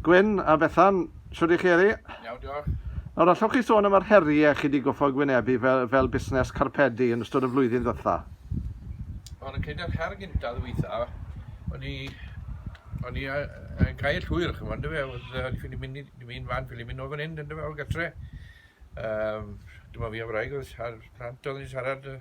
Gwyn a Bethan, shwd y'ch chi heddi? Iawn, diolch. Nawr, allwch chi sôn am yr heriau chi 'di goffod gwynebu fel fel busnes carpedi yn ystod y flwyddyn ddwytha? Wel, yn credu yr her gynta ddwytha, o'n i o'n i yy yn cael llwyr ch'mo' on'd yfe, o'dd yy o'n i ffili mynd i dim un fan ffili mynd nôl fan 'yn on'd yfe, o gartre. Yym, dim ond fi a'r wraig o'dd ar plant o'dd yn siarad yy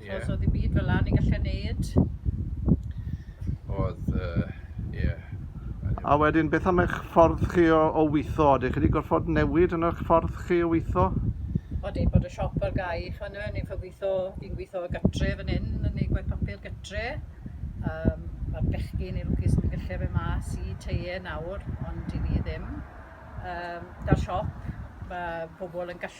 Ie. T'mo' so ddim byd fel 'a ni'n gallu neud. O'dd yy ie. A wedyn beth am eich ffordd chi o, o weitho? Ydych chi wedi gorfod newid yn eich ffordd chi o weitho? Wel dim bod y siop ar gau ch'mo' on'd yw e? Ni'n ffo gwitho, fi'n gwitho o gytre fan 'yn, yn neud gwaith papur gytre. Yym ma'r bechgyn neu lwcus yn gallu a fe mas i tŷ e nawr ond i ni ddim. Yym 'da'r siop ma' pobol yn gallu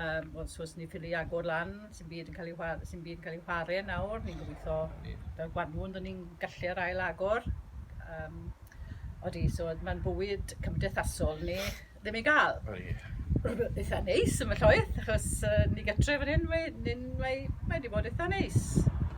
Yym wel so os ni ffili agor lan sim byd yn ca'l 'i wha- sim byd yn ca'l 'i whare nawr ni'n gobitho... Na ni. ...fel gwanwyn 'dyn ni'n gallu ar ail agor yym odi so o'dd ma'n bywyd cymdeithasol ni ddim i ga'l. O ie. Itha neis ambell waith achos yy ni gytre fan 'yn we- 'yn mae mae 'di bod itha neis.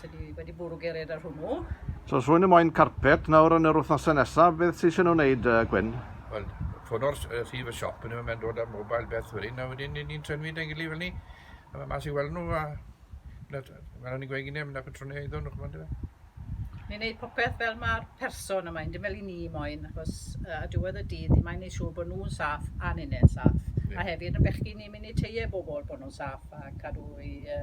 Sydd wedi, wedi bwrw gered ar hwnnw. So os rwy'n y moyn carpet nawr yn yr wythnosau nesaf, beth sy'n eisiau nhw wneud, uh, Gwyn? Wel, ffono'r rhif y siop, yn ymwneud dod â mobile beth wedi, a wedyn ni'n trenwi dau gilydd fel ni, a mae mas i weld nhw, a fel o'n i'n gweud gyda, mynd â patrwniau iddyn nhw, chymod e. Ni'n gwneud popeth fel mae'r person yma, yn dim fel i ni moyn, achos uh, a diwedd y dydd, ni'n mae'n gwneud siŵr bod nhw'n saff a ni'n saff. Yeah. A hefyd yn bechgyn ni'n mynd i teie bobl bod nhw'n saff a cadw i... Uh,